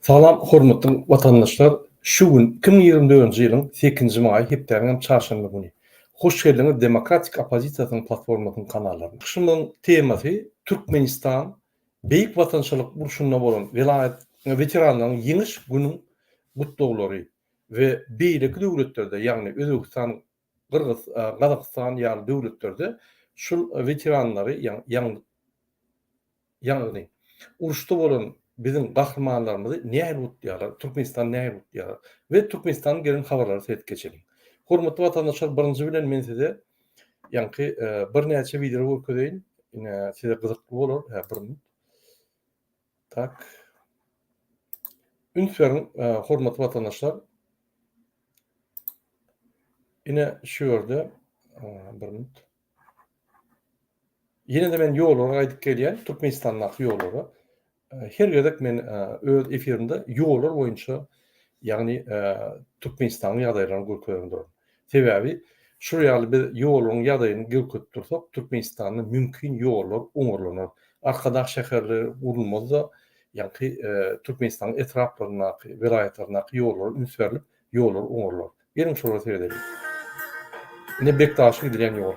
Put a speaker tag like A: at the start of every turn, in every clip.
A: Salam hormatly watandaşlar şu gün iki müň ýigrimi dördünji ýylyň sekizinji maýy hepdäniň hem çarşenbe güni hoş geldiňiz demokratik opozisiýasynyň platformasynyň kanallaryna. Çykyşymyzyň temasy Türkmenistan beýik watançylyk urşunda bolan welaýat weteranlaryň ýeňiş günüň gutlawlary we beýleki döwletlerde ýagny Özbegistan Gyrgyz, Gazagystan ýaly döwletlerde şul weteranlary ýaňy ýaňyny uruşda bolan biziň gahrymanlarymyzy nähili gutlaýarlar, Türkmenistan nähili gutlaýarlar we Türkmenistandan gelen habarlary seredip geçeliň. Hormatly watandaşlar birinji bilen men size ýaňky birnäçe wideo görkezeýin. Ine size gyzykly bolar. Hä bir minut. Tak. Üns beriň, hormatly watandaşlar. Ine şu ýerde bir minut. Ýene de men ýollara gaýdyp gelýän, Türkmenistandaky ýollara. Her gezek men öz efirimde ýollar boýunça, ýagny Türkmenistanyň ýagdaýlaryny görkezip duraryn. Sebäbi şu ýaly biz ýoluň ýadaýyny görkezip dursak, Türkmenistanda mümkin ýollar oňarlanar. Arkadag şäherleri gurulmazda ýaňky Türkmenistanyň etraplaryndaky, welaýatlaryndaky ýollara üns berlip, ýollar oňarlar. Geliň şolara seredeliň. Ine Bekdaşa gidilýän ýol.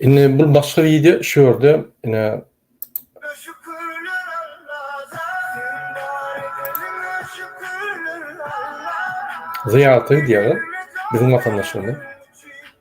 A: Indi bu başga wideo şu ýerde ine Zyýarata gidýärler biziň watandaşlarymyz.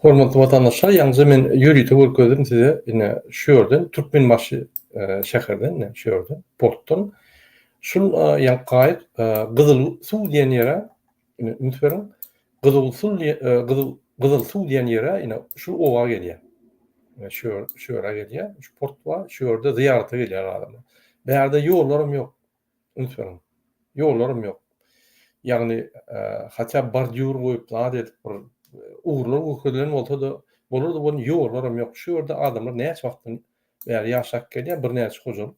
A: Hormatly watandaşlar ýaňyja men ýörite görkezdim size ine şu ýerden Türkmenbaşy şäherden ine şu ýerden portdan şul ýaňky gaýyk Gyzyl suw diýen ýere ine üns beriň Gyzyl suw Gyzyl Gyzyl suw diýen ýere ine şu oba gelýär. Ine şu şu ýere gelýär şu port bar şu ýerde zyýarata gelýär adamlar. Bärde ýollar hem ýok. Üns beriň. Ýollaram ýok. Ýagny hatda bordýur goýup zat edip bir ugurlar görkezilen bolsada bolardy bolny ýollaram ýok. Şu ýerde adamlar näçe wagtdan bäri ýaşap gelýär birnäçe hojalyk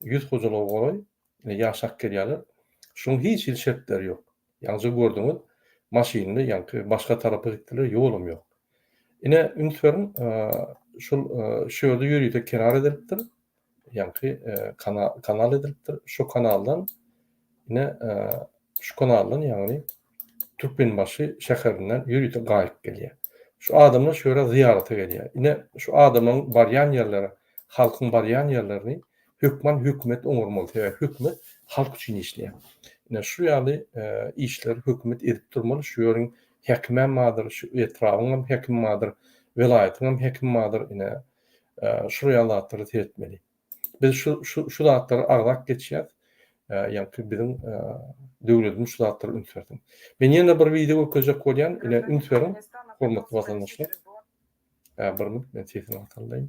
A: ýüz hojalyga golaý ýaşap gelýärler. Şuň hiç hili şertleri ýok. Ýaňja gördüňiz maşynly ýaňky başga tarapa gitdiler ýolam ýok. Ine üns beriň şul şu ýerde ýörite kenar edilipdir. ýaňky kanal edilipdir. Şu kanaldan ine şu kanaldan ýagny Türkmenbaşy şäherinden ýörite gaýyk gelýär. Şu adamlar şu ýere zyýarata gelýär. Ine şu adamlaryň barýan ýerleri, halkyň barýan ýerlerini hökman hökümet oňarmaly. Sebäbi hökümet halk üçin işleýär. Ine şu ýaly işleri hökümet edip durmaly. Şu ýeriň häkimem bardyr, şu etrabyň hem häkimi bardyr, welaýatyň hem häkimi bardyr. Ine Şuraya zatları seyretmeli. Biz şu, şu, şu zatları arzak geçýär. Yani ki bizim döwletin şu zatları üns bersin. Men ýene bir video görkezjek bolýan, ine üns beriň, hormatly watandaşlar. Bir minut, men sesini ataldaýyn.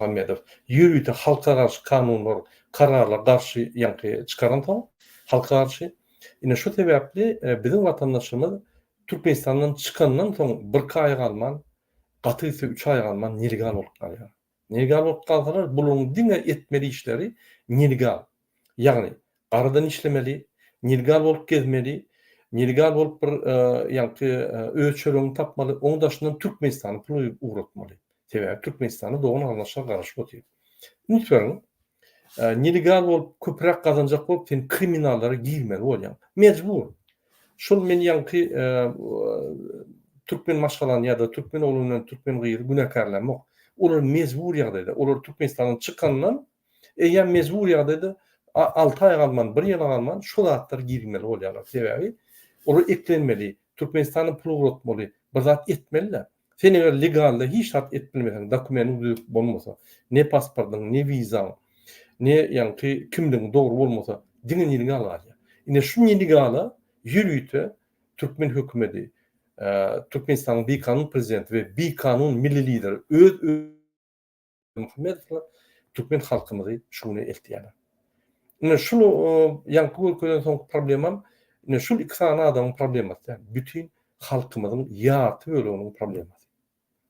A: Berdimuhamedow ýörite halka garşy kanunlar, kararlar garşy ýaňky çykaransoň, halka garşy. Ine şu sebäpli biziň watandaşymyz Türkmenistandan çykandan soň birki aý galman, gaty gitse üç aý galman nelegal bolup galýar. Nelegal bolup galsalar bularyň diňe etmeli işleri nelegal. Ýagny, garadan işlemeli, nelegal bolup gezmeli, nelegal bolup bir ýaňky öz çöregini tapmaly, oň daşyndan Türkmenistana pul ugratmaly. Sebäbi Türkmenistana dogan garyndaşlar garaşyp otyr. Üns beriň, nelegal bolup köpräk gazanjak bolup sen kriminallara girmeli bolýaň. Mejbur. Şol men ýaňky türkmen maşgalany ýa-da türkmen ogluny, türkmen gyzy günäkärlämok. Olar mejbur ýagdaýda, olar Türkmenistandan çykandan Eýýäm mejbury ýagdaýda alty aý galman, bir ýyla galman şo zatlary girizmeli bolýarlar. Sebäbi olar eklenmeli, Türkmenistana pul ugratmaly, bir zat etmeli-de. Sen eger legalda hiç zat edip bilmeseň, dokumentiň düzüp bolmasa, ne pasportyň, ne wizaň, ne ýaňky kimligiň dogry bolmasa, diňe nelegal galýar. Ine şu nelegala ýörite türkmen hökümeti, Türkmenistanyň bikanun prezidenti we bikanun milli lideri öz Berdimuhammedowlar türkmen halkymyzy şu güne eltýärler. Ine şuny ýaňky görkezen soňky problemam ine şul iki sany adamyň problemasy däl, bütin halkymyzyň ýarty böleginiň problemasy.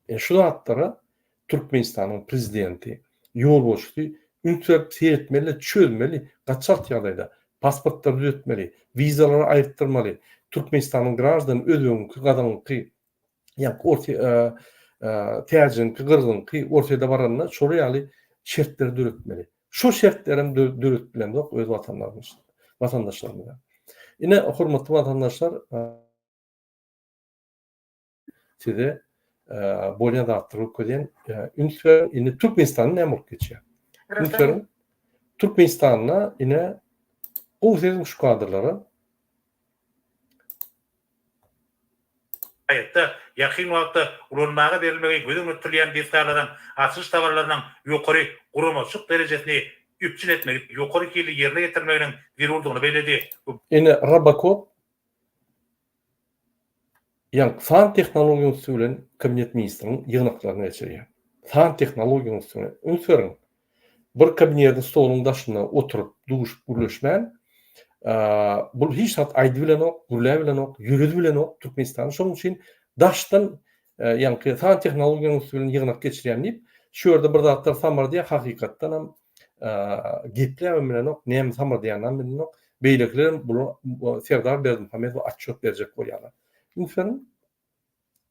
A: Ine şu zatlara Türkmenistanyň prezidenti, ýolbaşçysy üns berip seretmeli, çözmeli, gaçak ýagdaýda pasportlary düzetmeli, wizalary aýyrtdyrmaly, Türkmenistanyň graždany özbegiňki, gazagyňky ýa orta täjiňki, gyrgyňky ortada baranda şolar ýaly şertleri döretmeli. Şo şertler hem döretdilenok öz watanlarymyz, watandaşlarymyza. Ine, hormatly watandaşlar, size bolýan zatlar öküzýän üns beriň. Indi Türkmenistanda näme bolup geçýär? Üns beriň. Türkmenistanda ine gowy sezim şu kadrlara.
B: Saýtda ýakyn wagtda ulanmaga berilmegi göz öňünde tutulýan desgalaryň açylyş tabalarynyň ýokary guramaçylyk derejesini üpjün etmegi ýokary hilli ýerine ýetirmeginiň zerurdygyny belledi we Ine,
A: RoboCop ýaňky san tehnologiýanyň üsti bilen Kabinet ministriniň ýygnaklaryny geçirýär. San tehnologiýanyň üstüne üns beriň, Bir kabinetiň stoluň daşynda oturyp, duşup gürleşmän, bul hiç zat aýdy bilenok, gürläp bilenok, ýöredi bilenok, Türkmenistany şonuň üçin daşdan, ýaňky san tehnologiýanyň üsti bilen ýygnak geçirýän diýip, şu ýerde bir zatlar samyrdýar, hakykatdan hem gepläp hem bilenok, näme samyrdýanyny hem bilenok. Beýlekiler hem bula Serdar Berdimuhamedowa atçot berjek bolýarlar. Üns beriň.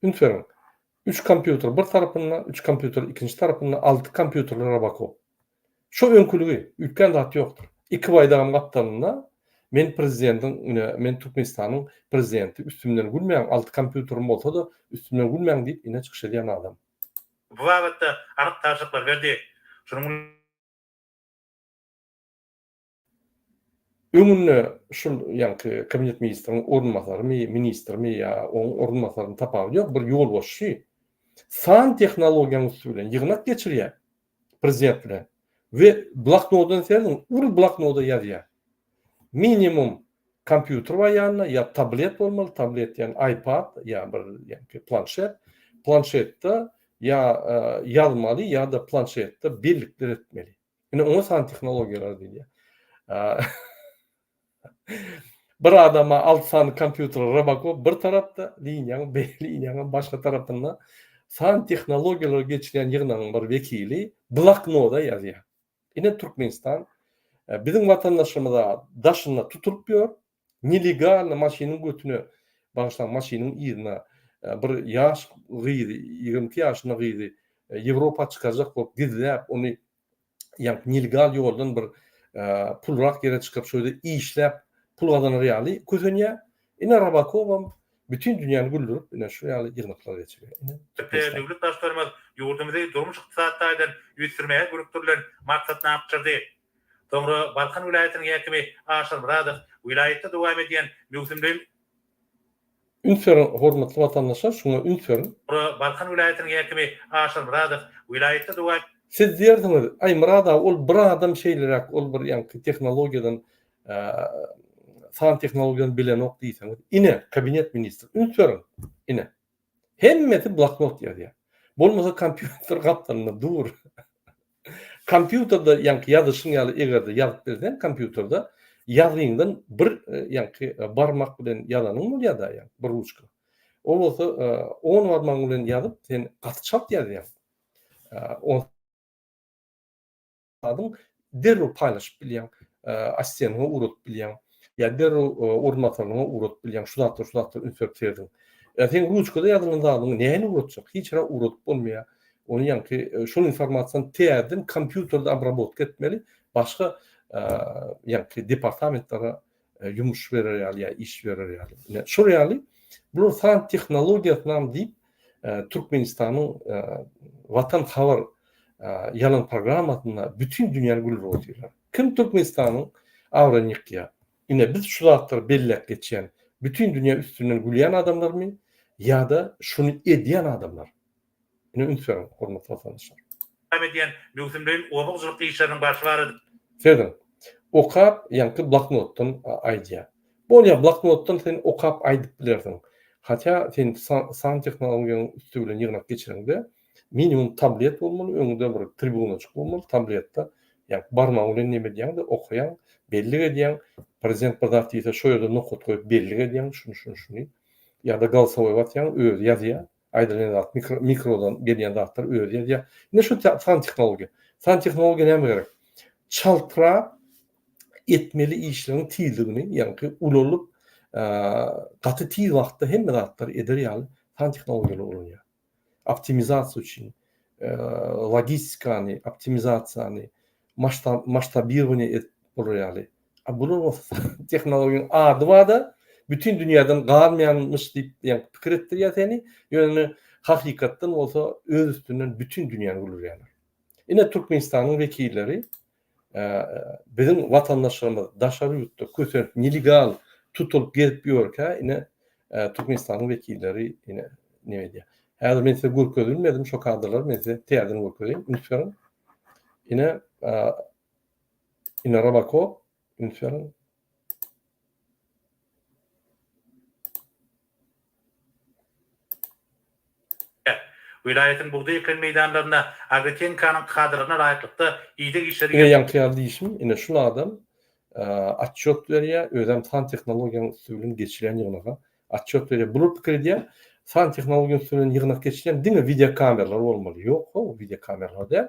A: Üns beriň, üç kompýuter bir tarapynda, üç kompýuter ikinji tarapynda, alty kompýuterli Robocop. Şo öňküligi, üýtgän zat ýokdur. Iki baýdagam gapdalynda, men prezidentiň, ine, men Türkmenistanyň prezidenti, üstümden gülmäň, alty kompýuterim bolsa-da, üstümden gülmäň diýip, ine, çykyş edýän adam. Bu babatda
B: anyk tabşyryklar berdi. Şunuň.
A: Öňünde şul ýaňky kabinet ministriniň orunbasarymy, ministrimi ýa oň orunbasaryny tapawudy ýok, bir ýolbaşçy san tehnologiýanyň üsti bilen ýygnak geçirýär prezident bilen we bloknodyny serediň, uly bloknoda ýazýar. Minimum kompýuter bar ýanynda, ýa tablet bolmaly, tablet ýan iPad ýa bir ýaňky planşet, planşetde ýa ýazmaly ýa-da planşetde bellikler etmeli. Ine oňa san tehnologiýalary diýilýär. bir adama alt sany kompýuter Robocop bir tarapda, liniýaň beýle liniýanyň başga tarapynda san tehnologiýalary geçirýän ýygnagyň bir wekili bloknoda ýazýar. Ine Türkmenistan e, biziň watandaşlarymyza daşynda tutulyp ýör, Nelegalny maşynyň götüne, bagyşlaň, maşynyň yzyna bir ýaş gyzy, ýigrimi iki ýaşynda gyzy Ýewropa çykarjak bolup gizläp, ony ýaňky nelegal ýoldan bir pulrak ýere çykyp, şo ýerde işläp pul gazanar ýaly kösenýär. Ine Rabakowam bütin dünýäni güldürip, ine şu ýaly ýygnaklar geçirýär. Ine Türkmenistan. Döwlet
B: Baştutanymyz ýurdumyzy durmuş-ykdysady taýdan ösdürmäge gönükdirilen maksatnama tabşyrdy. Soňra Balkan welaýatynyň häkimi Aşyr Myradow welaýatda dowam edýän möwsümleýin
A: Üns beriň, hormatly watandaşlar, şuňa üns beriň! Soňra Balkan welaýatynyň
B: häkimi Aşyr Myradow welaýatda dowam. Siz diýersiňiz,
A: Aý, Myrad aga, ol bir adam şeýleräk, ol bir ýaňky tehnologiýadan, san tehnologiýadan bilenok diýseňiz. Ine, Kabinet ministri. Üns beriň! Ine. Hemmesi bloknot ýazýar. Bolmasa kompýuter gapdalynda dur. Kompýuterde ýaňky ýazyşyň ýaly egerde ýazyp bilseň kompýuterde ýazgyňdan bir ýaňky barmak bilen ýazanyň bolýada ýaňky bir ruçka. Ol bolsa on barmagyň bilen ýazyp sen gaty çalt ýazýaň. adyň derrew paýlaşyp bilýäň, assiýanyňa ugradyp bilýäň, ýa derrew ornatyryňa ugradyp bilýäň, şu zatlar, şu zatlar üns berip serediň. Ýa seň ruçkada ýazylan zadyňy nähili ugratjak, hiç hara ugradyp bolmaýar. Ony ýaňky şol informasiýany täzeden kompýuterde obrabotka etmeli, başga ýaňky departamentlara ýumuş berer ýaly ýa iş berer ýaly. Ine, şol ýaly bular san tehnologiýasynam diýip, Türkmenistanyň Watan habar ýalan programmasynda bütin dünýäni gülüp otyrlar. Kim Türkmenistanyň abraýyny ýykýar? Ine, biz şu zatlary belläp geçýän, bütin dünýä üstünden gülýän adamlarmy ýa-da şuny edýän adamlar? Ine üns beriň hormatly watandaşlar. Dowam edýän
B: möwsümleýin oba hojalyk işleriniň barşy barada. Seziň.
A: Okap ýaňky bloknotdan aýdýa. Bolýa bloknotdan sen okap aýdyp bilersiň. Hatýa sen san tehnologiýanyň üsti bilen ýygnak geçireňde minimum tablet bolmaly öňüňde bir tribunajyk bolmaly tabletda ýaňky barmagyň bilen neme edýäňde okaýaň bellik edýäň prezident bir zat diýse şo ýerde nokat goýup bellik edýäň şuny şuny şuny ýa-da golsowoý basýaň özi ýazýa Aýdylyny zat mikro mikrodan gelýän zatlar özi ýazýar. Ine şu san tehnologiýa. San tehnologiýa näme gerek? Çaltrap etmeli işleriň tizligini, ýagny ulalyp gaty tiz wagtda hemme zatlary eder ýaly san tehnologiýalary ulanýar. Optimizasiýa üçin logistikany, optimizasiýany, Maştab maştabirowaniýa edip bolar ýaly. A bular bolsa tehnologiýaň ady bada bütin dünýäden galmaýanmyş diýip ýaňky pikir etdirýär seni. Ýöne hakykatdan bolsa öz üstünden bütin dünýäni güldürýärler. Ine Türkmenistanyň wekilleri biziň watandaşlarymyz daşary ýurtda kösenip nelegal tutulyp gezip ýörkä ine Türkmenistanyň wekilleri ine neme edýär. Häzir men size görkezilmedim şo kadrlary men size täzeden görkezeýin üns beriň. Ine Ine Rabako Infern
B: Welaýatyň bugdaý eken meýdanlarynda Agrotehnikaň kadalaryna laýyklykda ideg işleri Ine ýaňky ýaly diýşim,
A: ine şul adam otçýot berýär, özem san tehnologiýanyň üsti bilen geçilýän ýygnaga Otçýot berýär. Bular pikir edýär, san tehnologiýa üstünden ýygnak geçilýän diňe wideo kameralar bolmaly. Ýok, howw, wideo kameralar däl.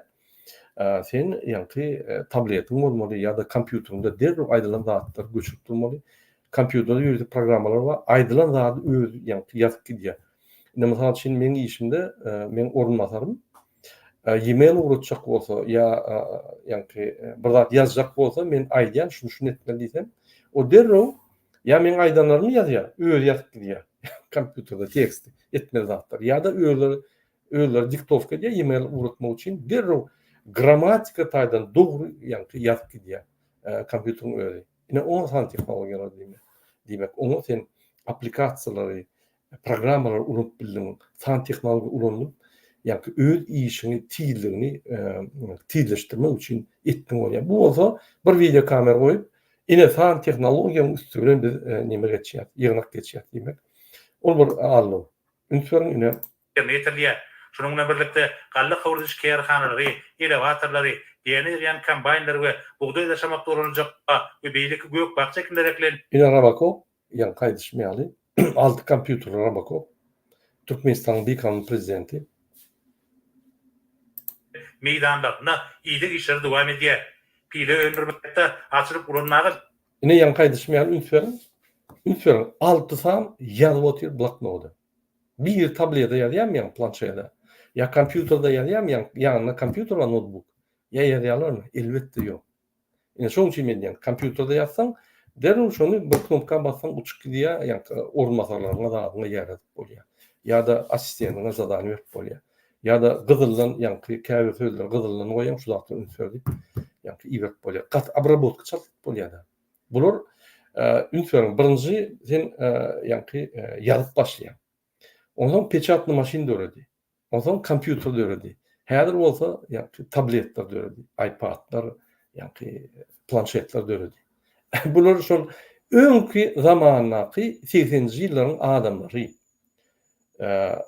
A: Sen ýaňky tabletiň bolmaly ýa-da kompýuteriňde derrew aýdylan zatlary göçürip durmaly. Kompýuterde ýörite programmalar bar, aýdylan zady özi ýaňky ýazyp gidýär. Indi mysal üçin meň işimde meň orunbasarym e-mail ugratjak bolsa ýa ýaňky bir zat ýazjak bolsa men aýdýan şuny şuny etmeli diýsem, o derrew Ýa meň aýdanlarymy ýazýar, özi ýazyp gidýär kompýuterde tekst etmeli zatlar ýa-da özleri özleri diktowka edýär e-mail ugratmak üçin derrew grammatika taýdan dogry ýaňky ýazyp gidýär kompýuteriň özi. Ine oňa san tehnologiýalar diýmek. Diýmek oňa sen applikasiýalary programmalary ulanyp bildiň, san tehnologiýa ulanyp, ýa-ki öz işiňi tizligini tizleşdirmek üçin etdiň bolýar. Bu bolsa bir wideo kamera goýup, ine san tehnologiýanyň üsti bilen biz neme geçýär, ýygnak geçýär diýmek. Ol bir allow. Üns beriň ine. Ýerine ýetirilýär.
B: Şunuň bilen birlikde, galla howludyş kärhanalary, elewatorlary, däne ýygýan kombaýnlary we bugdaý daşamakda ulanyljak ba we beýleki gök-bakja ekinleri eklen. Ine Robocop
A: Ýaňky aýdyşym ýaly, alty kompýuterli Robocop, Türkmenistanyň bikanun prezidenti.
B: meýdanlarynda ideg işleri dowam edýär. Pile öndürmekde açylyp ulan nagyş. Ine ýaňky aýdyşym
A: ýaly üns beriň, üns beriň, alty san ýazyp otyr bloknoda. Biri tableda ýazýarmy ýaňy planşede, ýa kompýuterde ýazýarmy ýaňy ýanynda kompýuter bar notbuk, ýa ýazýarlarmy? Elbetde ýok. Ine şonuň üçin men diýen, kompýuterde ýazsaň, derrew şony bir knopka bassaň uçup gidýär, ýa-da orunbasarlaryňa zadyňa ýaýradyp bolýar. Ýa-da assisteniňe zadaniýa berip bolýar. Ýa-da gyzyldan, ýaňky käbir sözleri gyzyldan goýaň, şu zatlar üns ber diýip, ýaňky iberip bolýar. Gaty obrabotka çaltdyryp bolýar-da. Bular, üns beriň, birinji sen, ýaňky ýazyp başlaýaň. Onsoň peçatny maşyn döredi. Onsoň kompýuter döredi. Häzir bolsa ýa-da tabletler döredi, iPad-lar, ýa-da planşetler döredi. Bular şol öňki zamandaky segseninji ýyllaryň adamlary.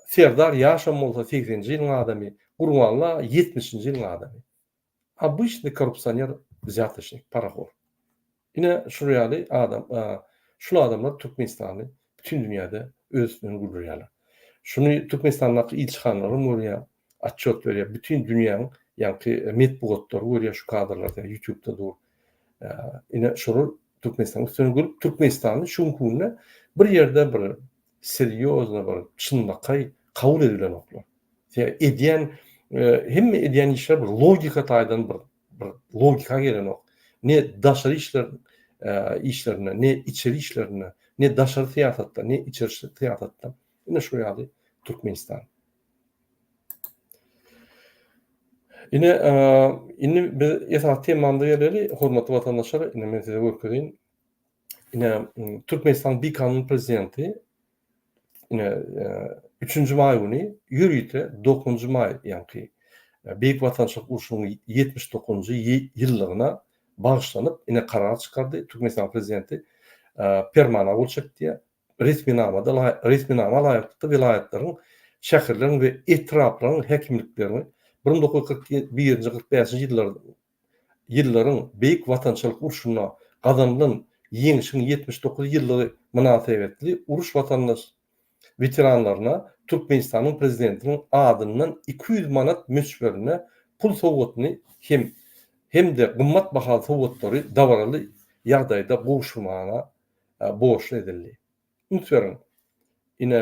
A: Serdar ýaşam bolsa segseninji ýylyň adamy, Gurballa ýetmişinji ýylyň adamy. Obıçny korrupsioner wzýatçnik parahor. Ine şul ýaly adam şul adamlar türkmenistany bütin dünýäde öz üstünden güldürýäler. Şuny türkmenistandaky ilçihanalaram görýär atçot berýär bütin dünýäň ýaňky metbugatlary görýär şu kadrlarda ýutubda dur. Ine şular türkmenistanyň üstüne gülüp türkmenistany şu günki günde bir ýerde bir Serýozno bir çynlakaý kabul edilenoklar. Sebäbi edýän hemme edýän işler bir logika taýdan bir bir logika gelenok. Ne daşary işler işlerinde, ne içeri işlerinde, ne daşary syýasatda, ne içeri syýasatda. Ine şu ýaly Türkmenistan. Ine indi biz esasy temamyza geleli, hormatly watandaşlar, indi men size görkezeýin. ine Türkmenistanyň bikanun prezidenti ine e, üçünji maý güni ýörite dokuzynjy maý ýaňky e, Beýik Watançylyk urşunyň ýetmiş dokuzynjy ýyllygyna bagyşlanyp ine karar çykardy. Türkmenistanyň prezidenti e, permana gol çekdi. Resminamada resminama laýyklykda welaýatlaryň, şäherleriň we etraplaryň häkimliklerini 1941-45-nji ýyllar ýyllaryň Beýik Watançylyk urşunda gazanylan Ýeňşiň ýetmiş dokuz ýyllygy mynasybetli uruş watandaş weteranlaryna Türkmenistanyň Prezidentiniň adyndan iki ýüz manat möçberinde pul sowgatyny hem hem-de gymmat bahaly sowgatlary dabaraly ýagdaýda gowşurmagyna borçly edildi. Üns beriň, ine,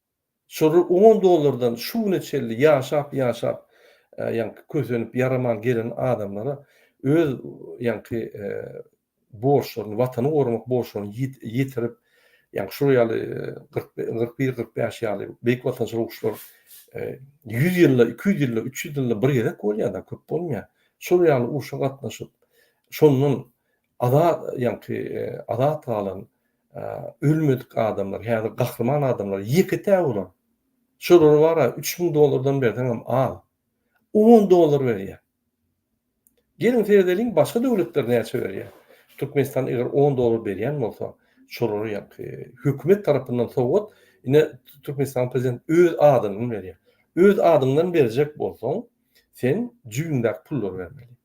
A: Şol on dollardan şu güne çenli ýaşap ýaşap ýaňky kösenip ýaraman gelen adamlara öz ýaňky borçlaryny watany goramak borçlaryny ýetirip ýaňky şol ýaly kyrk kyrk bir kyrk bäş ýaly beýik watançylyk uruşlar ýüz ýylda iki ýüz ýylda üç ýüz ýylda bir gezek bolýada köp bolmaýa şol ýaly urşa gatnaşyp şondan azat ýaňky azat galan Ölmedik adamlar, häzir gahryman adamlar ýeke-tä bolan. Şolara bar-a, üç müň dollardan berseňem az. On dollar berýär. Geliň seredeliň, başga döwletler näçe berýär. Türkmenistan eger on dollar berýän bolsa, şolara ýa-da hökümet tarapyndan sowgat, ine, Türkmenistanyň prezidenti öz adyndan berýär. Öz adyňdan berjek bolsaň, sen jübüňdäki pullary bermeli.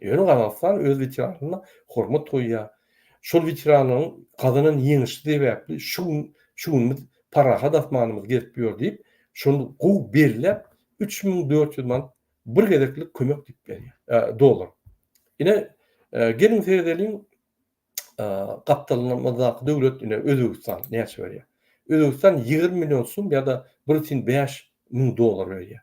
A: Ýöne Gazagystan öz weteranyna hormat goýýar. Şol weteranlaryň gazanan ýeňişi sebäpli şu gün şu gün biz parahat asmanymyz gezip ýör diýip, şony gowy belläp, üç müň dört ýüz manat bir gezeklik kömek diýip berýär, dollar. Ine, geliň seredeliň, gapdalymyzdaky döwlet, ine, Özbegistan näçe berýär? Özbegistan ýigrimi million sum ýa-da bir sin bäş müň dollar berýär.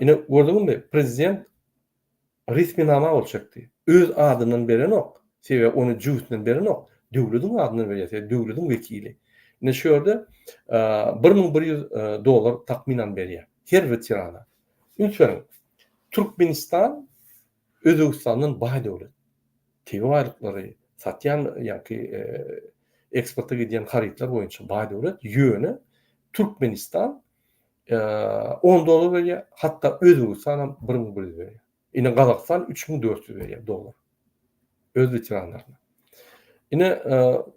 A: Ine, gördüňizmi, prezident resminama gol çekdi. Öz adyndan berenok, sebäbi ony jübüsinden berenok, döwletiň adyndan berýär, sebäbi döwletiň wekili. Ine, şu ýerde bir müň bir ýüz dollar takmynan berýär her weterana. Üns beriň, Türkmenistan Özbegistandan baý döwlet. Tebigy baýlyklary, satýan ýa-ki eksporta gidýän harytlar boýunça baý döwlet, ýöne Türkmenistan On dollar berýär, hatda Özbegistan hem bir müň bir ýüz berýär. Ine Gazagystan üç müň dört ýüz berýär dollar. Öz weteranlaryna. Ine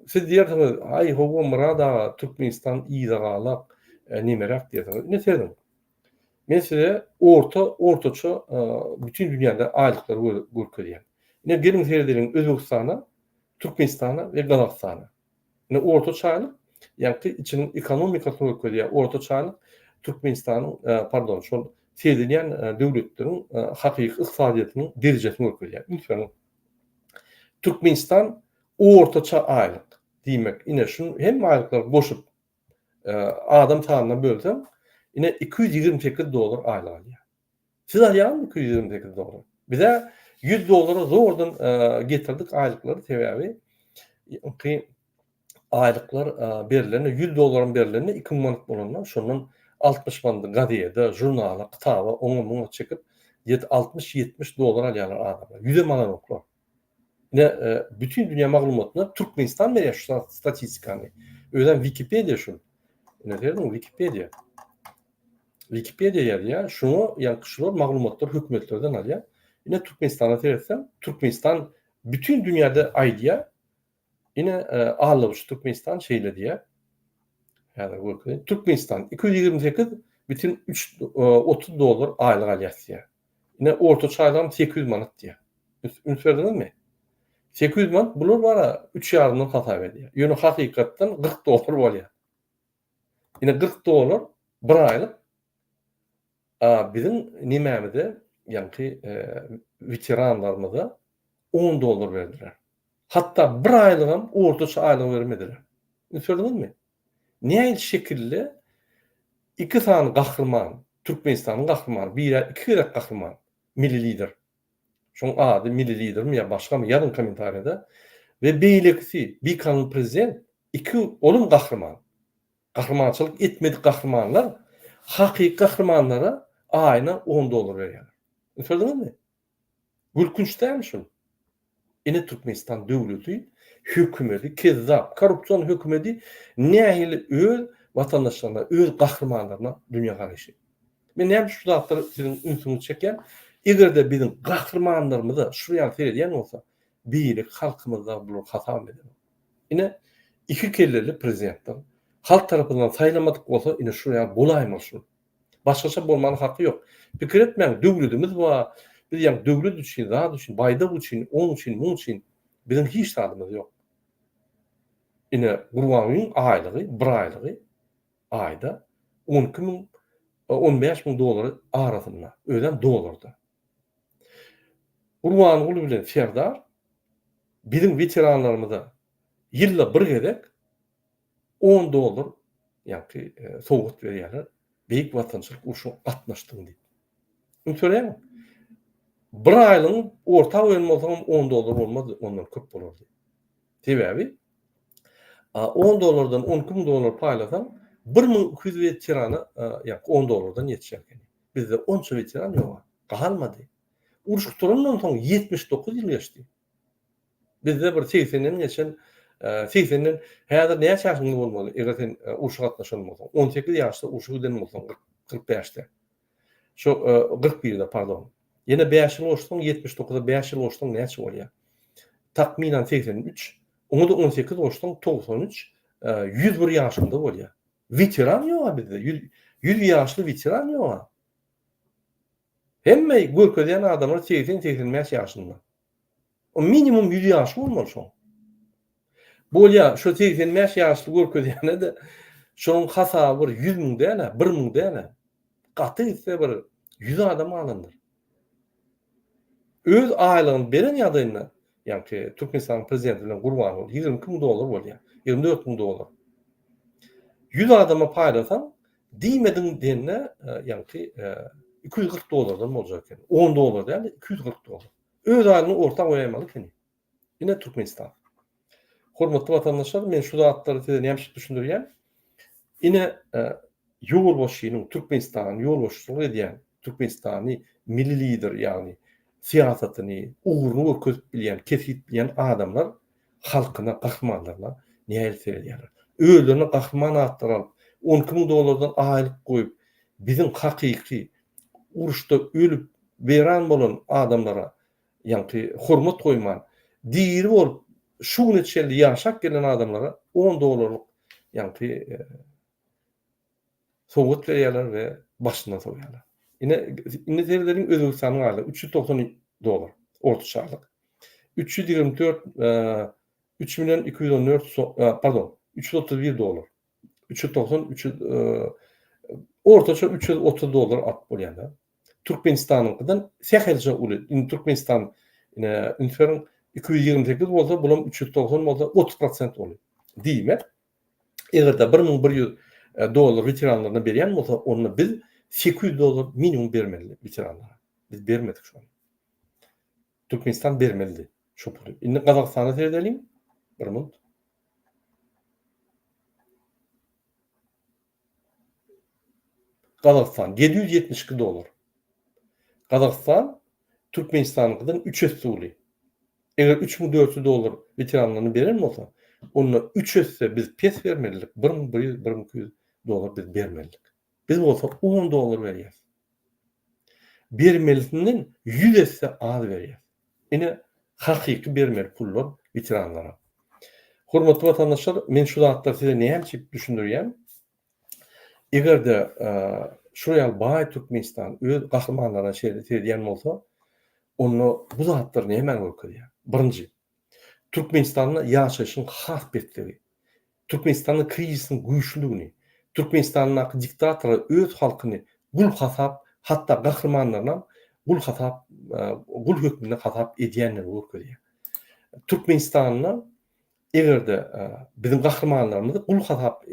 A: siz diýersiňiz, aý hawa Murad aga, Türkmenistan yzagalak, nemeräk diýersiňiz. Ine sezin. Men size orta ortaça bütin dünýäde aýlyklary görkezýän. Ine geliň seredeliň Özbegistana, Türkmenistana we Gazagystana. Indi orta çaýlyk, ýagty içiniň ekonomikasyny görkezýär. Orta çaýlyk Türkmenistanyň, pardon, şol seredilýän döwletleriň hakyky ykdysadyýetiniň derejesini görkezýär. Ünsüňiz. Türkmenistan orta çaýlyk. Diýmek, ine şu hemme aýlyklary goşup, adam sanyna bölseň, ine iki ýüz ýigrimi sekiz dollar aýlyk alýar. Siz alýaňyzmy iki ýüz ýigrimi sekiz dollara? Bizä ýüz dollara zordan getirdik aýlyklary, sebäbi ýa-ki aýlyklar berilende ýüz dollaram berilende iki müň manat bolanda şondan altmyş manady gazede, žurnala, kitaba, oňa-muňa çekip ýet altmyş ýetmiş dollar alýarlar adamlar. Ýüzem alanoklar. Ine, bütin dünýä maglumatyna Türkmenistan berýär şu statistikany. Özem Wikipediýa şu. Ine, görüňiz, Wikipediýa. Wikipediýa ýazýar, şuňa ýaňky şular maglumatlary hökümetlerden alýar. Ine, Türkmenistana seretsem, Türkmenistan bütin dünýäde aýdýar, Ine, Allows Türkmenistan şeýle diýýär. Häzir görkezeýin. Türkmenistan iki ýüz ýigrimi sekiz bütin üç otuz dollar aýlyk alýas diýýär. Ine, ortaça aýlygym sekiz ýüz manat diýýär. Üns berdiňizmi? Sekiz ýüz manat bular bara üç ýarymdan hasap edýär. Ýöne hakykatdan kyrk dollar bolýar. Ine, kyrk dollar bir aýlyk biziň nemämize, ýaňky weteranlarymyza on dollar berdiler. Hatda bir aýlygam ortaça aýlygy bermediler. Ünsediňizmi? Näil şekilde iki sany gahryman, Türkmenistanyň gahrymany, birä iki gezek gahryman, Milli Lider. Şoň ady Milli Lidermi ýa başgamy ýazyň kommentariýada. We beýlekisi bikanun prezident, iki olam gahryman. Gahrymançylyk etmedik gahrymanlar hakyky gahrymanlara aýyna on dollar berýärler. Ünsediňizmi? Gülkünç dälmi şol? Ine Türkmenistan döwleti, hökümeti, kezzap, korrupsion hökümeti nähili öz watandaşlaryna, öz gahrymanlaryna dünýä garaýşy? Men näme üçin şu zatlara siziň ünsüňizi çekýän? Eger-de biziň gahrymanlarymyza şular ýaly seredýän bolsa, beýleki halkymyzda bular hasap eder. Ine iki kelleli prezidentler halk tarapyndan saýlamadyk bolsa ine şular ýaly bolaýmaly şul. Başgaça bolmana haky ýok. Pikir etmäň döwledimiz bar, biz ýaňy döwlet üçin, zat üçin, baýdak üçin, oň üçin, muň üçin biziň hiç zadymyz ýok. Ine Gurbangulyň aýlygy, bir aýlygy aýda on iki müň, on bäş müň dollar arasynda, özem dollarda. Gurbanguly bilen Serdar biziň weteranlarymyza ýylda bir gezek On dollar ýaňky sowgat berýärler. Beýik Watançylyk urşuna gatnaşdyň diýip. Indi töläýiň. Bir aýlygyň orta goýan bolsaňam on dollar bolmazdy, ondan köp bolardy. Sebäbi on dollardan on iki müň dollar paýlasaň, bir müň iki ýüz weterana ýaňky on dollardan ýetişer ekeni. Bizde onça weteran ýok-a. Galmady. Uruş gutarandan soň ýetmiş dokuz ýyl geçdi. Bizde bir segsenden geçen segsenden häzir näçe ýaşyňyz bolmaly eger sen urşa gatnaşan bolsaň on sekiz ýaşda urşa giden bolsaň kyrk bäşde şo kyrk birde pardon ýene bäş ýyl goşsaň ýetmiş dokuza bäş ýyl goşsaň näçe bolýar takmynan segsen üç oňa-da on sekiz goşsaň togsan üç ýüz bir ýaşyňda bolýar weteran ýog-a bizde ýüz ýaşly weteran ýog-a Hemme görkezýän adamlar segsen, segsen bäş ýaşynda. O minimum ýüz ýaşy bolmaly şoň. Bolýa, şo segsen bäş ýaşly görkezýäne-de, şoň hasaby bir ýüz müň däl-ä, bir müň däl-ä. Gaty gitse bir ýüz adam alandyr. Öz aýlygyny beren ýadynda, Ýaňky Türkmenistanyň prezidenti bilen Gurbanguly ýigrimi iki müň dollar bolýar. Ýigrimi dört müň dollar. Ýüz adama paýlasaň, diýmediň diýende, ýaňky iki ýüz kyrk dollardan boljak eken. On dollar däl-de, iki ýüz kyrk dollar. Öz aýlygyny orta goýaýmaly ekeni. Ine Türkmenistan. Hormatly watandaşlar, men şu zatlary size näme üçin düşündirýän? Ine, ýolbaşçynyň, Türkmenistanyň ýolbaşçylyk edýän, Türkmenistany milli lider, ýagny syýasatyny, ugruny görkezip bilýän, kesgit bilýän adamlar halkyna, gahrymanlaryna nähili seredýärler? Özlerine gahryman atlary alyp, on iki müň dollardan aýlyk goýup, biziň hakyky uruşda ölüp, weýran bolan adamlara Ýagty hormat goýman, diri bolup, şu güne çenli ýaşap gelen adamlara on dollarlyk ýagty sowgat berýärler we başyndan sowýarlar. Ine, indi seredeliň Özbegistanyň halyna, üç ýüz togsan dollar ortaçalyk. Üç ýüz ýigrimi dört, üç million iki ýüz on dört, pardon, üç ýüz otuz bir dollar. üç ýüz togsan üç ýüz ortaça üç ýüz otuz dollar artyk bolýar da türkmenistanyňkydan sähelçe uly indi türkmenistan ine üns beriň iki ýüz ýigrimi sekiz bolsa bulam üç ýüz togsan bolsa otuz prosent uly diýmek egerde bir müň bir ýüz e, dollar weteranlaryna berýän bolsa onda biz sekiz ýüz dollar minimum bermeli weteranlara biz bermedik şony türkmenistan bermelidi şu puly indi gazagystana seredeliň bir minut Gazagystan, ýedi ýüz ýetmiş iki dollar. Gazagystan Türkmenistanyňkydan üç esse uly. Eger üç müň dört ýüz dollar weteranlaryna beren bolsa, onda üç esse biz pes bermelidik, bir müň bir ýüz, bir müň iki ýüz dollar biz bermelidik. Biz bolsa on dollar berýäs. Bermelisinden ýüz esse az berýäs. Ine hakyky bermeli pullar weteranlara. Hormatly watandaşlar men şu zatlary size näme üçin düşündirýän? Egerde şu ýaly baý Türkmenistan öz gahrymanlaryna şeýle seredýän bolsa, onda bu zatlar nämäni görkezýär? Birinji, Türkmenistanda ýaşaýşyň has pesligi. Türkmenistanda krizisiň güýçlüdigini, Türkmenistandaky diktatora öz halkyny gul hasap, hatda gahrymanlarynam gul hasap, gul hökmünde hasap edýändigini görkezýär. Türkmenistanda eger-de biziň gahrymanlarymyzy gul hasap,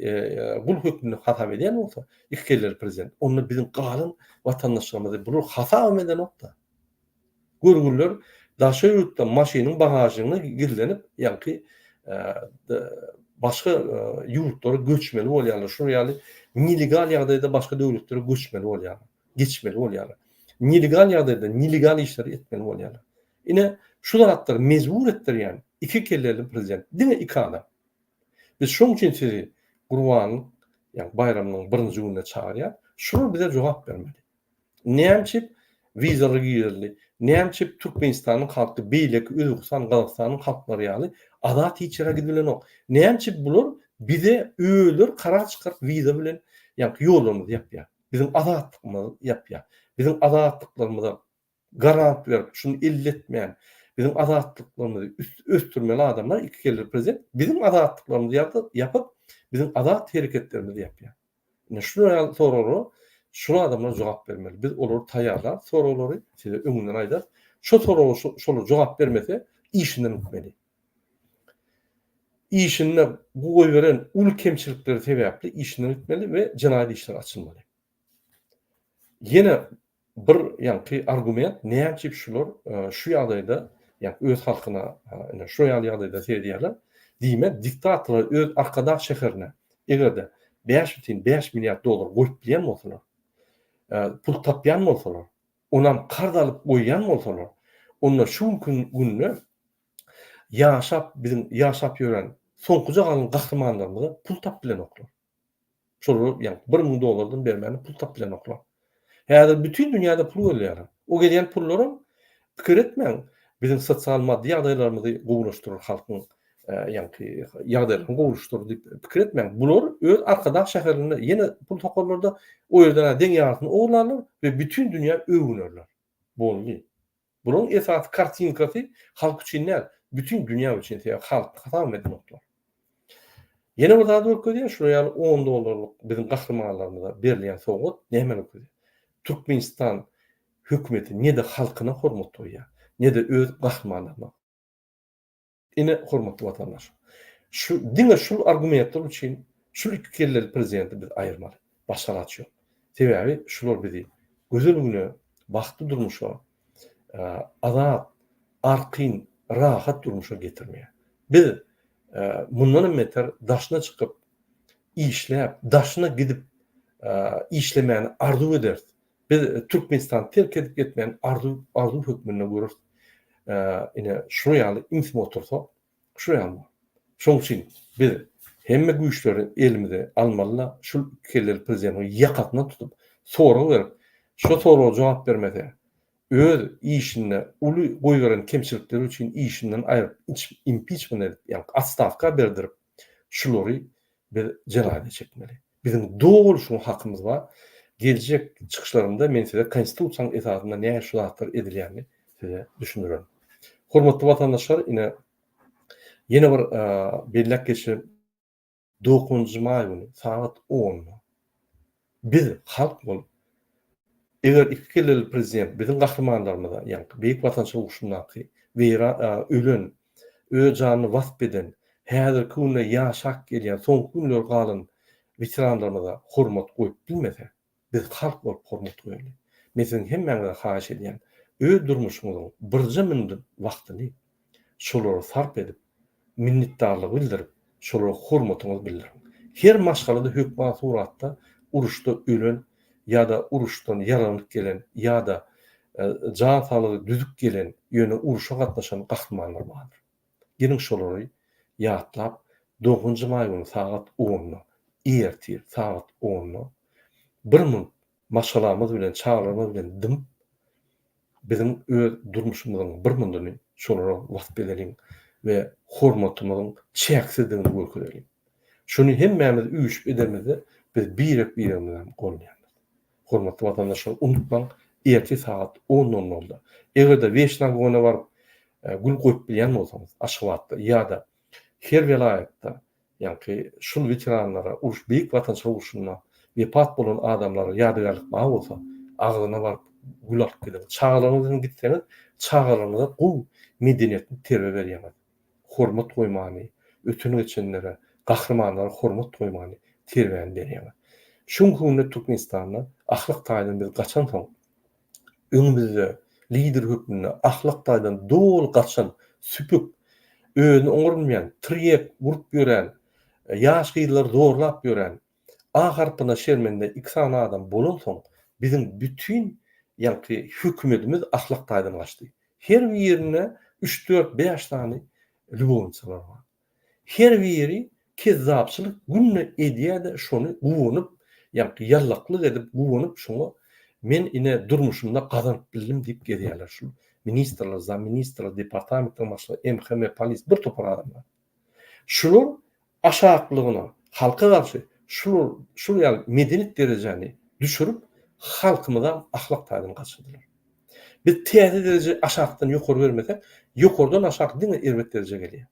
A: gul hökmünde hasap edýän bolsa iki kelleri prezident, onda biziň galan watandaşlarymyzy bular hasabam edenok-da. Görgüliler daşary ýurtda maşynyň bagažnygynda gizlenip, ýaňky başga ýurtlara göçmeli bolýarlar, şular ýaly nelegal ýagdaýda başga döwletlere göçmeli bolýarlar, geçmeli bolýarlar. Nelegal ýagdaýda nelegal işleri etmeli bolýarlar. Ine, şu zatlar mejbur etdirýän iki kelleli prezident, diňe iki adam. Biz şoň üçin sizi Gurbanyň, ýagny baýramynyň birinji gününe çagyrýarys. Şular bize jogap bermeli. Nämçip wizaly girdi? Nämçip Türkmenistanyň halky beýleki Özbegistan, Gazagystanyň halklary ýaly azat hiç ýere gidip bilenok? Nämçip bular bize özleri karar çykaryp wiza bilen ýaňky ýollarymyzy ýapýar? Biziň azatlygymyzy ýapýar. Biziň azatlyklarymyza garant berip, şuny elletmän, biziň azatlyklarymyzy ösdürmeli adamlar iki kelli prezident biziň azatlyklarymyzy ýapyp, biziň azat hereketlerimizi ýapýar. Ine şular ýaly soraglara şul adamlar jogap bermeli. Biz olary taýýarlarys soraglary, size öňünden aýdarys. Şo soraga şolar jogap bermese, işinden gitmeli. Işinde bu goýberen uly kemçilikleri sebäpli işinden gitmeli we jenaýat işleri açylmaly. Ýene Bir ýaňky argument näme üçin şular şu ýagdaýda ýa öz halkyna ine şu ýaly ýagdaýda seredýärler. Diýmek diktatorlar öz Arkadag şäherine egerde bäş bütin bäş milliard dollar goýup bilýän bolsalar, pul tapýan bolsalar, onam karz alyp goýýan bolsalar, onda şu günki günde ýaşap biziň ýaşap ýören soňkuja galan gahrymanlarymyza pul tapyp bilenoklar. Şolar ýa bir müň dollardan bermäne pul tapyp bilenoklar. Häzir bütin dünýäde pul gözleýär. O gezýän pullaram pikir etmäň, biziň sosial maddy ýagdaýlarymyzy gowulaşdyrar halkyň ýaňky ýagdaýlaryny gowulaşdyrar diýip pikir etmäň. Bular öz Arkadag şäherinde ýene pul sokarlar-da, o ýerden-ä deň ýarysyny ogurlarlar we bütin dünýä öwünerler. Boldy. Bunuň esasy kartinkasy halk üçin däl, bütin dünýä üçin sebäp halk hasabam edinoklar. Ýene bir zat görkezýär, şular ýaly on dollarlyk biziň gahrymanlarymyza berilýän sowgat näme görkezýär? Türkmenistan hökümeti ne-de halkyna hormat goýýar, ne-de öz gahrymanlaryna. Ine, hormatly watandaş, şu diňe şul argumentler üçin şul iki kelleli prezidenti biz aýyrmaly. Başga alaç ýok. Sebäbi şular bizi gözel güne, bagtly durmuşa, azat, arkin, rahat durmuşa getirmeýär. Biz mundan hem beter daşyna çykyp, işläp, daşyna gidip işlemäni arzuw ederis. Biz Türkmenistany terk edip gitmegini arzuw arzuw hökmünde göreris. Ine, şular ýaly imsim otursak, şular ýaly bolar. Şonuň üçin biz hemme güýçleri elimize almaly-da, şul iki kelleli prezidentiň ýakasyndan tutup, sorag berip, şo soraga jogap bermese, öz işinde uly goýberen kemçilikleri üçin işinden aýryp, impiçment edip, ýagny atstawka berdirip, şulary biz jenaýata çekmeli. Biziň doly şuňa hakymyz bar. Geljek çykyşlarymda men size konstitusiýanyň esasynda nähili şu zatlar edilýänini size düşündirerin. Hormatly watandaşlar, ine ýene bir belläp geçerin. Dokuzynjy maý güni sagat onda biz halk bolup Eger iki kelleli prezident biziň gahrymanlarymyza, ýaňky Beýik Watançylyk urşundaky weýran, ölen, öz janyny wasp eden, häzirki günde ýaşap gelýän, soňky günleri galan weteranlarymyza hormat goýup bilmese, biz halk bolup hormat goýaly. Men siziň hemmäňizden haýyş edýän, öz durmuşyňyzyň birje minut wagtyny şolara sarp edip, minnetdarlygy bildirip, şolara hormatyňyzy bildiriň. Her maşgalada hökman suratda uruşda ölen ýa-da uruşdan ýaralanyp gelen ýa-da jan saglygy düzüp gelen, ýöne uruşa gatnaşan gahrymanlar bardyr. Geliň şolary ýatlap, dogunjy maý güni sagat onda, ertir sagat onda bir minut maşgalamyz bilen, çagalarymyz bilen dymyp, biziň öz durmuşymyzyň bir mundany şolara wasp edeliň we hormatymyzyň çäksizdigini görkezeliň. Şuny hemmämiz üýşüp edermizde, biz birek-biregimizi hem goraýarys. Hormatly watandaşlar, unutmaň, ertir sagat on nol nolda, eger-de Weşnagona baryp, gül goýup bilýän bolsaňyz, Aşgabatda ýa-da her welaýatda Ýaňky şul weteranlara, uruş Beýik Watançylyk urşunda wepat bolan adamlara ýadygärlik bar bolsa, agzyna baryp gül alyp gidiň. Çagalaryňyz bilen gitseňiz, çagalaryňyza gowy medeniýetli terbiýe berýäňiz. Hormat goýmany, öten-geçenlere, gahrymanlara hormat goýmany terbiýäni berýäňiz. Şu günki günde Türkmenistanda ahlak taýdan biz gaçansoň, Öňümizde lider hökmünde ahlak taýdan doly gaçan, süpük, özüni oňarynmaýan, tirýek urup ýören, ýaş gyzlary zorlap ýören, A harpyna şermende iki sany adam bolansoň, biziň bütin ýaňky hökümetimiz ahlak taýdan gaçdy. Her birinde üç-dört-bäş sany lýubowniçalar bar. Her biri kezzapçylyk günde edýärde şony guwanyp ýaňky ýallaklyk edip guwanyp şoňa men ine durmuşymda gazanyp bildim diýip gezýärler şul ministrler zamministrler departamentler başlygy MHM polis bir topar adamlar şular aşaklygyna halka garşy şular şul ýaly medenik derejäni düşürip halkymyzam ahlak taýdan gaçyrdylar. Biz täze dereje aşakdan ýokary bermesek, ýokardan aşak diňe erbet derejä gelýär.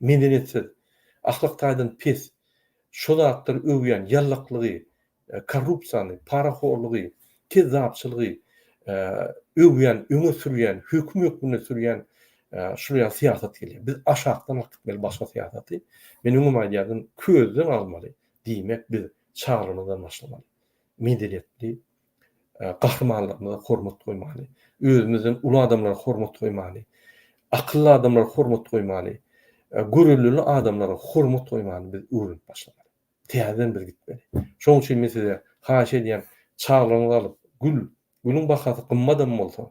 A: Medeniýetsiz, ahlak taýdan pes, şo zatlary öwýän ýallaklygy, korrupsiýany, parahorlugy, kezzapçylygy öwýän, öňe sürýän, höküm hökmünde sürýän şular ýaly syýasat gelýär. Biz aşakdan alyp gitmeli başga syýasaty. Men öňem aýdýardym, közden almaly, diýmek biz çaglygymyzdan başlamaly. Medeniýetli, gahrymanlarymyza hormat goýmaly, özümizden uly adamlara hormat goýmaly, akylly adamlara hormat goýmaly, görellili adamlara hormat goýmaly biz öwrenip başlamaly. Täzeden biz gitmeli. Şonuň üçin men size haýyş edýän, çaglaryňyzy alyp, gül, gülüň bahasy gymmadam bolsa,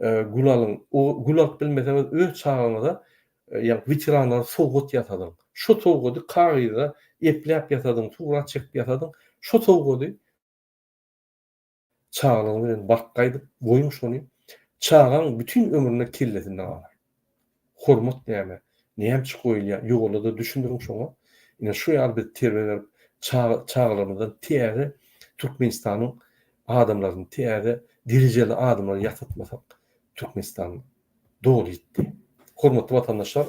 A: e, gül alyň. O gül alyp bilmeseňiz, öz çagaňyza e, ýa weteranlara sowgat ýasadyň. Şu sowgady kagyza epläp ýasadyň, surat çekip ýasadyň. Şu sowgady Çagalygyňyz bilen bark gaýdyp goýuň şony. Çagaň bütin ömrüne kellesinde galar. Hormat näme, nämçe goýulýar, ýuwalada düşündiriň şoňa. Ine şu ýaly biz terbiýe berip, çaga çagalarymyzdan täze Türkmenistanyň adamlaryny, täze derejeli adamlary ýasatmasak, Türkmenistan doly ýitdi. Hormatly watandaşlar,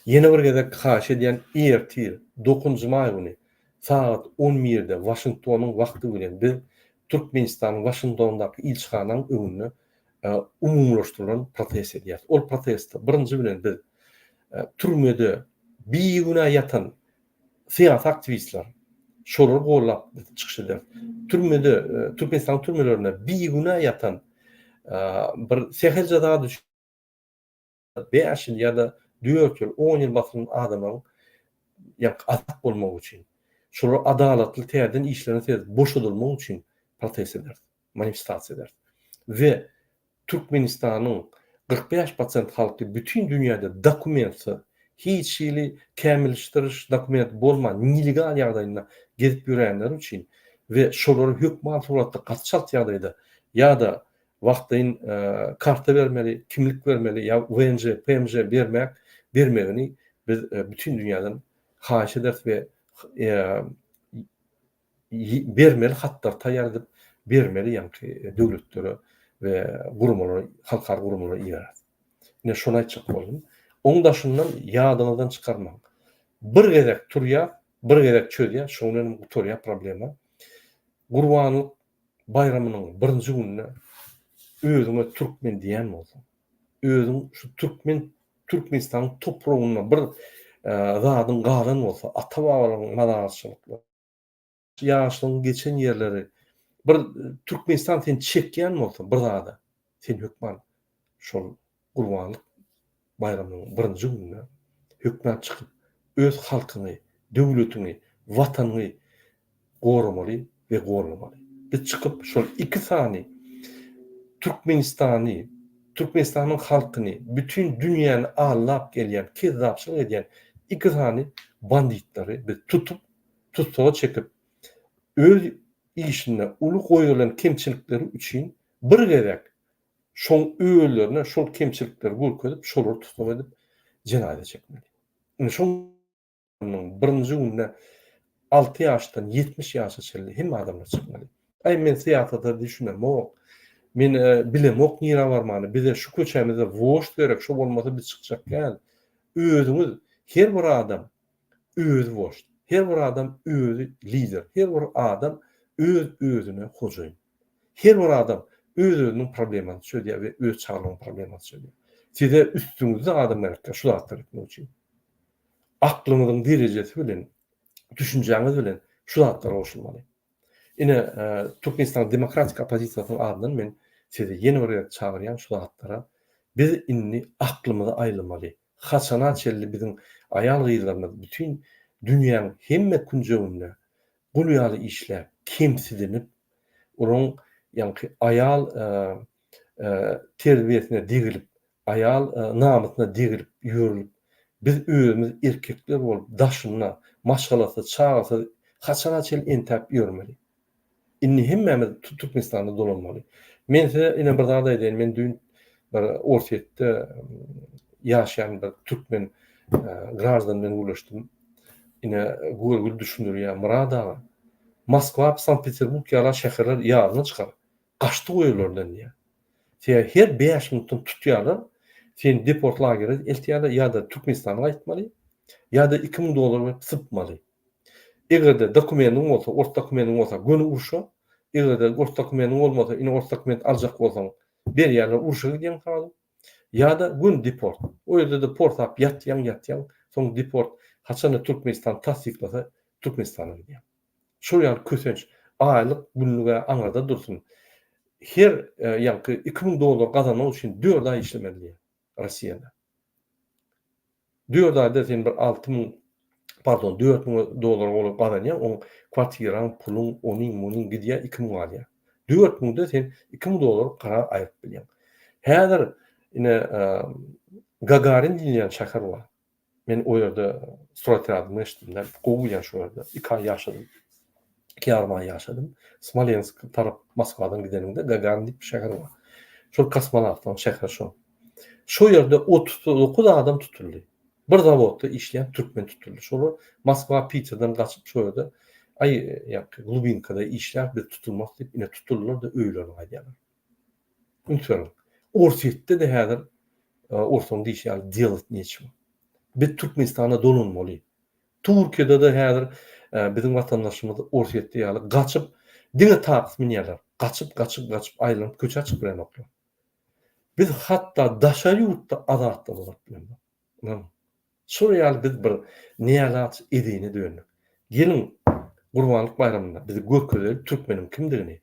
A: ýene bir gezek haýyş edýän ertir, dokuzynjy maý güni sagat on birde Waşingtonyň wagty bilen biz Türkmenistanyň Waşingtondaky ilçihanaň öňünde umumylaşdyrylan protest edýäris. Ol protestde birinji bilen biz türmede bigünä ýatan Syýasy aktiwistler, şolary gollap biz çykyş ederis. Türmede, Türkmenistanyň türmelerinde bigünä ýatan bir sähelçe zat üçin bäş ýyl ýa-da dört ýyl, on ýyl basylan adamlaryň ýa-da azat bolmagy üçin, şolar adalatly täzeden işlerine seredip boşadylmagy üçin protest ederis. manifestasiýa ederis we Türkmenistanyň kyrk bäş prosent halky bütin dünýäde dokumentsiz, hiç hili kämilleşdiriş dokumenti bolman nelegal ýagdaýynda gezip ýörenleri üçin we şolary hökman suratda gaty çalt ýagdaýda ýa-da wagtlaýyn karta bermeli, kimlik bermeli ýa VNJ, PMJ bermek bermegini biz bütin dünýäden haýyş ederis we bermeli hatlary taýýar edip bermeli ýaňky döwletlere we guramalara halkara guramalara ibereris. Ine şony aýtjak boldum. Oň daşyndan ýadyňyzdan çykarmaň. Bir gezek turýar, bir gezek çözýär, şoň bilen gutarýar problema. Gurbanlyk baýramynyň birinji gününe özüňe türkmen diýen bolsaň, özüň şu türkmen Türkmenistanyň topragynda bir zadyň galan bolsa, ata-babalaryň mazarçylyklary, ýaşlygyň geçen ýerleri, bir Türkmenistan seni çekýän bolsa bir zada, sen hökman şol Gurbanlyk baýramynyň birinji gününe hökmän çykyp, öz halkyňy, döwletiňi, Watanyňy goramaly we gollamaly. Biz çykyp, şol iki sany Türkmenistany, Türkmenistanyň halkyny, bütin dünýäni aldap gelýän, kezzapçylyk edýän iki sany banditleri biz tutup, tussaga çekip, öz işinde uly goýberlen kemçilikleri üçin bir gezek Şoň özlerine şol kemçilikleri görkezip, şolary tussag edip, jenaýza çekmeli. Indi şoň ýylyň birinji günde alty ýaşdan ýetmiş ýaşa çenli hemme adamlar çykmaly. Aý, men syýasata düşünemok. Men bilemok nirä barmany. Bize şu köçämizde wožd gerek, şo bolmasa biz çykjak däl. Özüňiz, her bir adam özi wožd, her bir adam özi lider, her bir adam öz-özüne hojaýyn. Her bir adam öz-özüniň problemasyny çözýär we öz çagalarynyň problemasyny çözýär. Size üstüňizde adam gerekdir şu zatlary etmek üçin. Aklyňyzyň derejesi bilen, düşünjäňiz bilen şu zatlar goşulmaly. Ine, e, Türkmenistan demokratik oppozisiýasynyň adyndan men sizi ýene bir gezek çagyrýan şu zatlara biz indi aklymyzy aýlamaly. Haçana çenli biziň aýal-gyzlarymyz bütin dünýäň hemme künjeginde gul ýaly işläp, kemsidinip, olaryň ýaňky aýal terbiýesine degilip, aýal namysyna degilip ýörlüp, biz özümiz erkekler bolup daşynda maşgalasyz, çagasyz haçana çenli entäp ýörmeli? Indi hemmämiz Türkmenistanda dolanmaly. Men size ine bir zat aýdaýyn, men düýn bir Orsýetde ýaşaýan bir türkmen graždan bilen gürleşdim. Ine görgüli düşündirýär, Myrat aga, Moskwa, Sankt-Peterburg ýala şäherler ýadyna çykar, gaçdy goý olardan diýýär. Sebäbi her bäş minutdan tutýarlar, seni deport lagere eltýärler, ýa-da Türkmenistana gaýtmaly, ýa-da iki müň dollar berip sypmaly. Eger-de dokumendiň bolsa, ors dokumendiň bolsa göni urşa, eger-de ors dokumendiň bolmasa, ine ors dokument aljak bolsaň, berýärler urşa gidýäň sal. Ýa-da göni deport. O ýerde deportap ýatýaň, ýatýaň, soň deport haçanda Türkmenistan tassyklasa Türkmenistana gidýäň. Şol ýaly kösenç, aýlyk, günlük-ä aňyrda dursun. Her ýaňky iki müň dollar gazanmak üçin dört aý işlemeli diýýär. Rossiýada. Dört aýda sen bir alty müň, pardon, dört müň dollara golaý gazanýaň, oň kwartiraň, puluň, onyň, munyň gidýär, iki müň galýar. Dört müňde sen iki müň dollar gara aýryp bilýäň. Häzir ine Gagarin diýilýän şäher bar. Men o ýerde surat ýadymy eşitdim-de, gowy ýa şu ýerde. Iki aý ýaşadym. Iki ýarym aý ýaşadym. Smolensk tarap Moskwadan gideniňde Gagan diýip bir şäher bar. Şol kosmonawtlaryň şäheri şo. Şo ýerde otuz dokuz adam tutuldy. Bir zawodda işleýän türkmen tutuldy. Şolar Moskwa, Piterden gaçyp şo ýerde aý ýa-da Lubinkada işläp biz tutulmarys diýip ine tutuldylar-da öýlerine gaýdýarlar. Unutmalyň. Orsýetde-de häzir orsuň diýşi ýaly delot nechego. Biz Türkmenistana dolanmaly. Turkiýada-da häzir biziň watandaşymyz Orsýetde ýaly gaçyp, diňe taks münýärler. Gaçyp, gaçyp, gaçyp aýlanyp köçä çykyp bilenoklar. Biz hatda daşary ýurtda azatlygymyz galyp bilenok. Ynam, şol ýaly biz bir neýalaç edine döndük. Geliň, Gurbanlyk baýramynda bizi görkezeli türkmeniň kimdigini.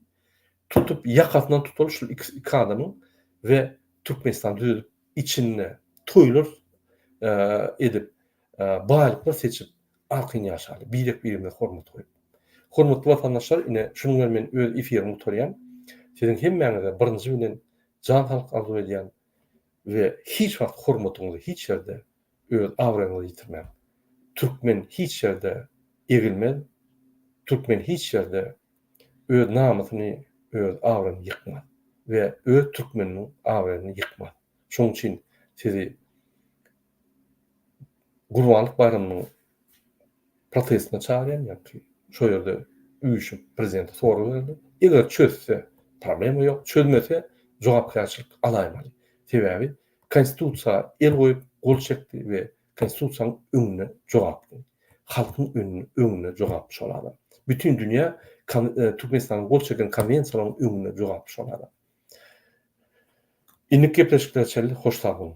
A: Tutup, ýakasyndan tutaly şul iki iki adamyň we Türkmenistan düzedip, içinde toýlar edip, baýlyklar seçip, arkaýyn ýaşaly, birek-birimize hormat goýup. Hormatly watandaşlar, ine, şunuň bilen men öz efirimi gutarýan. Siziň hemmäňize birinji bilen jan saglyk arzuw edýän. we hiç wagt hormatyňyzy hiç ýerde öz abraýňyzy ýitirmäň. Türkmen hiç ýerde egilmez, türkmen hiç ýerde öz namysyny öz abraýyny ýykmaz we öz türkmeniniň abraýyny ýykmaz. Şoň üçin sizi Gurbanlyk baýramynyň protestine çagyrýan ýa-da şo ýerde üýşüp prezidente sorag berdi. Eger çözse problema ýok, çözmese jogapkärçilik alaýmaly. Sebäbi konstitusiýa el goýup gol çekdi we konstitusiýanyň öňünde jogaply. Halkyň öňünde jogaply şol adam. Bütin dünýä Türkmenistanyň gol çeken konwensiýalaryň öňünde jogaply şol adam. Indiki gepleşiklere çenli hoş sag boluň.